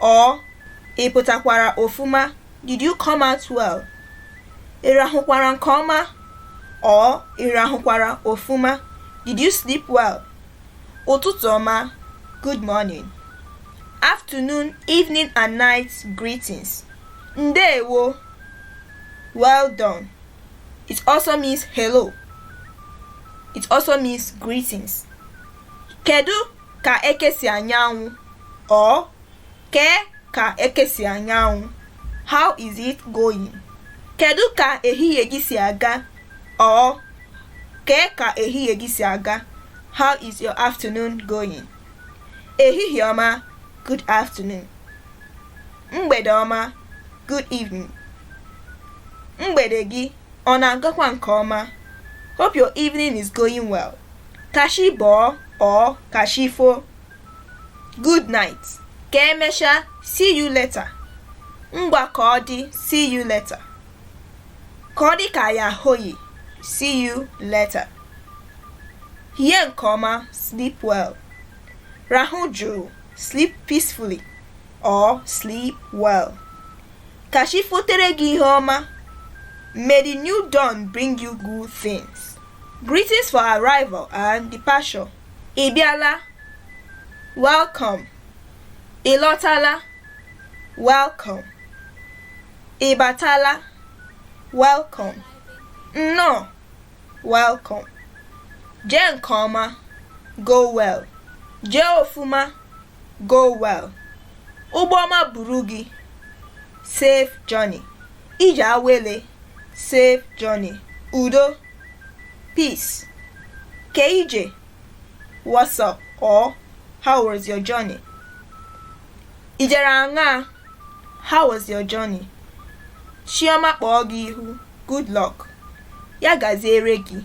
or ị pụtakwara ọfụma did you come out well ị rahụkwara nke ọma or ị rahụkwara ọfụma did you sleep well ụtụtụ ọma good morning afternoon evening and night greetings ndeewo well done it also means hello it also means greetings kedu ka eke si anya anwụ or kee ka eke si anya anwụ how is it going kedu ka ehihie gị si aga or kee ka ehihie gị si aga how is your afternoon going ehihie ọma good afternoon mgbede ọma good evening mgbede gị Ọ na-agakwa nke ọma. Hope your evening is going well. Ka chi bọọ or ka chi fo. Good night. Ka emesha, see you later. Ngwa ka ọ dị, see you later. Ka ọ dị ka ya hoyi, see you later. Hie nke ọma, sleep well. Rahụ jụụ, sleep peacefully. or sleep well. Ka chi fotere gị ihe ọma. May the new dawn bring you good things. Greetings for arrival and departure. Ị bịala. Welcome. Ị lọtala. Welcome. Ị batala. Welcome. Nnọọ. Welcome. Jee nke ọma. Go well. Jee ọfụma. Go well. Ụgbọma buru gị. Safe journey. Ije awele. Safe journey. Udo. Peace. Ke ije. What's up or how was your journey? Ijere aṅaa? How was your journey? Chioma kpọọ gị ihu. Good luck. Ya gaziere gị.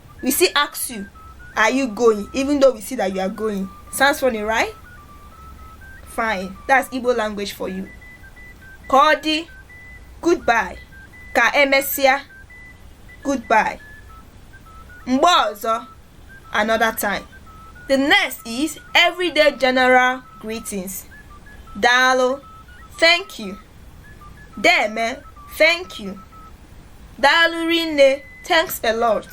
we still ask you are you going even though we see that you are going sounds funny right fine that's igbo language for you ka ọ dị goodbye ka emesịa goodbye mgbe ọzọ another time the next is everyday general greetings daalụ thank you deme thank you Daalụ rinne, thanks a lot.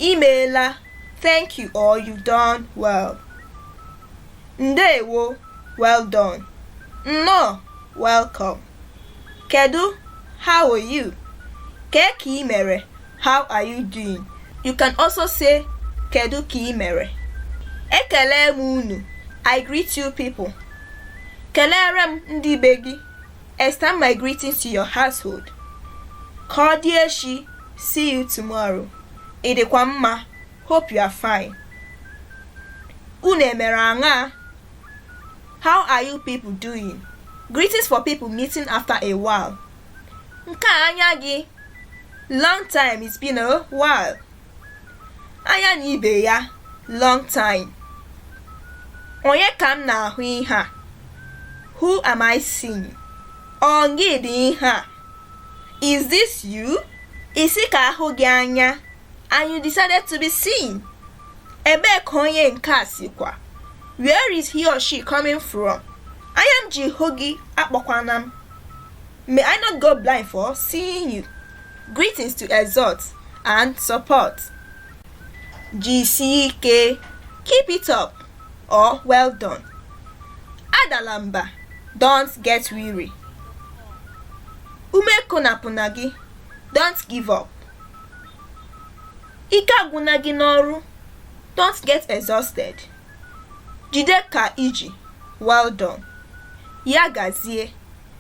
Imeela, thank you or you done well. Ndeewo, well done. Nnọọ, welcome. Kedu, how are you? Kee ka i mere, how are you doing? You can also say kedu ka i mere. Ekelee m unu, I greet you people. Keleere m ndị be gị. Extend my greetings to your household. Ka ọ dị echi, see you tomorrow. Ị dịkwa mma, hope you are fine. Unu emere aṅaa? How are you people doing? Greetings for people meeting after a while. Nke a anya gị? Long time, it's been a while. anya na ibe ya long time onye ka m na-ahụ ihe a who am I seeing ọ gị dị ihe a is this you ị sị ka a hụ gị anya and you decided to be seen ebee ka onye nke a sikwa where is he or she coming from anya m ji hụ gị akpọkwana m may I not go blind for seeing you Greetings to exhort and support. Jisie ike, keep it up or well done. Adala mba, don't get weary. Ume ekolopụna gị, don't give up. Ike agwụna gị n'ọrụ, don't get exhausted. Jide ka i ji, well done. Ya gazie.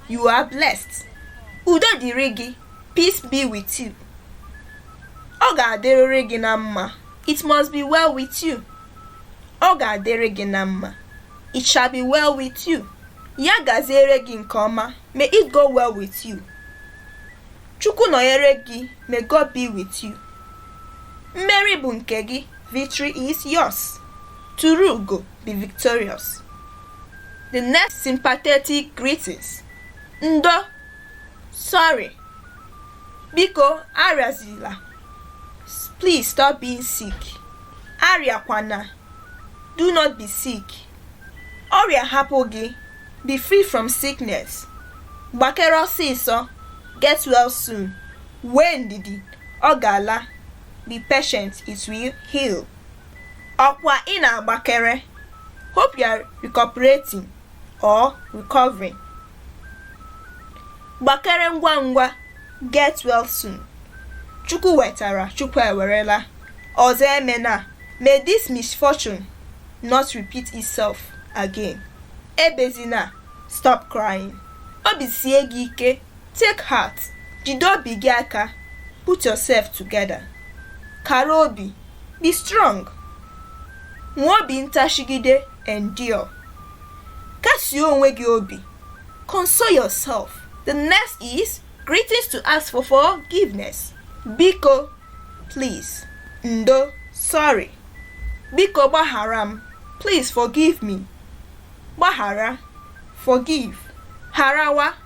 You are blessed. Udo dịrị gị. Peace be with you. Ọ ga-adịrịrị gị na mma. It must be well with you. Ọ ga-adịrị gị na mma. It shall be well with you. Ya gaziere gị nke ọma. May it go well with you. Chukwu nọnyere gị. May God be with you. Mmeri bụ nke gị. Victory is yours. Turu ugo. Be victorious. The next sympathetic greetings. Ndo, sorry, biko arịazila, please stop being sick. Arịakwana, do not be sick. Ọrịa hapụ gị, be free from sickness. Gbakere ọsịsọ, get well soon. Nwee ndidi, ọ ga-ala. Be patient, it will heal. Ọkwa ị na-agbakere? Hope you are recuperating or recovering. Gbakere ngwa ngwa, get well soon. Chukwu wetara, Chukwu ewerela. Ọzọ emena, may this misfortune not repeat itself again. Ebezina, stop crying. Obi sie gị ike, take heart, jide obi gị aka, put yourself together. Kara obi, Be strong. Nwee obi ntachigide endure. Kasie onwe gị obi. Console yourself. The next is greetings to ask for forgiveness. Biko, please. Ndo, sorry. Biko gbaghara m. Please forgive me. Gbaghara, forgive. Harawa,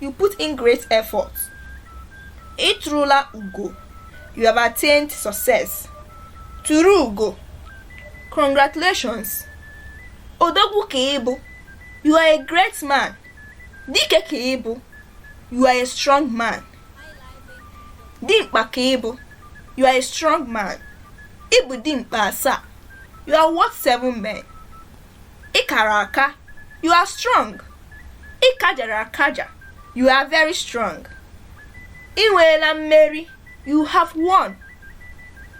You put in great effort. I turula ugo. You have attained success. Turu ugo. Congratulations. Odogwu ka ị bụ. You are a great man. Dike ka ị bụ. You are a strong man. Dimkpa ka ị bụ. You are a strong man. Ị bụ dimkpa asaa. You are worth seven men. Ị kara aka, you are strong. Ị kajara akaja, you are very strong. I nweela mmeri, you have won.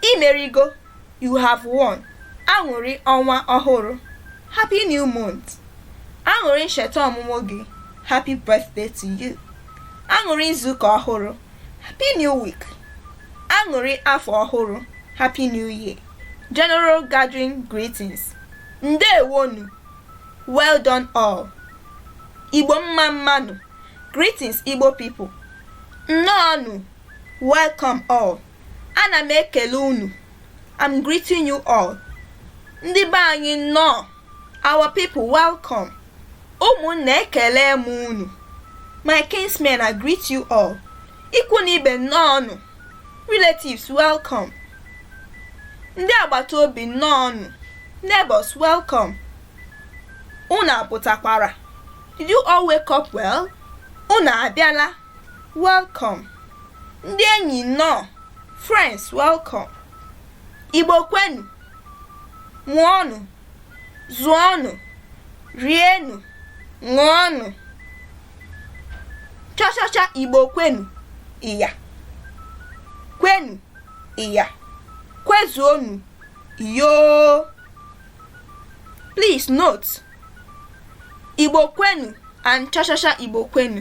I merigo, you have won. Aṅụrị ọnwa ọhụrụ, happy new month. Aṅụrị ncheta ọmụmụ gị, happy birthday to you. Aṅụrị izuụka ọhụrụ, happy new week. Aṅụrị afọ ọhụrụ, happy new year. General Gathering Greetings Ndeewonụ Well done all Igbo mma mmanụ Greetings Igbo people Nnọọnụ Welcome all Ana m ekele unu I'm greeting you all Ndị be anyị nnọọ Our people welcome ụmụnna ekelee m unu my kinsmen I greet you all ikwu na ibe nnọọ nụ Relatives, welcome. Ndị agbata obi nnọọnụ. Neighbors, welcome. Unu apụtakwara. Did you all wake up well? Unu abịala. Welcome. Ndị enyi nnọọ. Friends, welcome. Igbo kwenu. Mụọnụ. zụọnụ rienụ ṅụọnụ chọchọchọ igbo kwenu iya kwenu iya kwezuonu yoo please note igbo kwenu and chọchọchọ igbo kwenu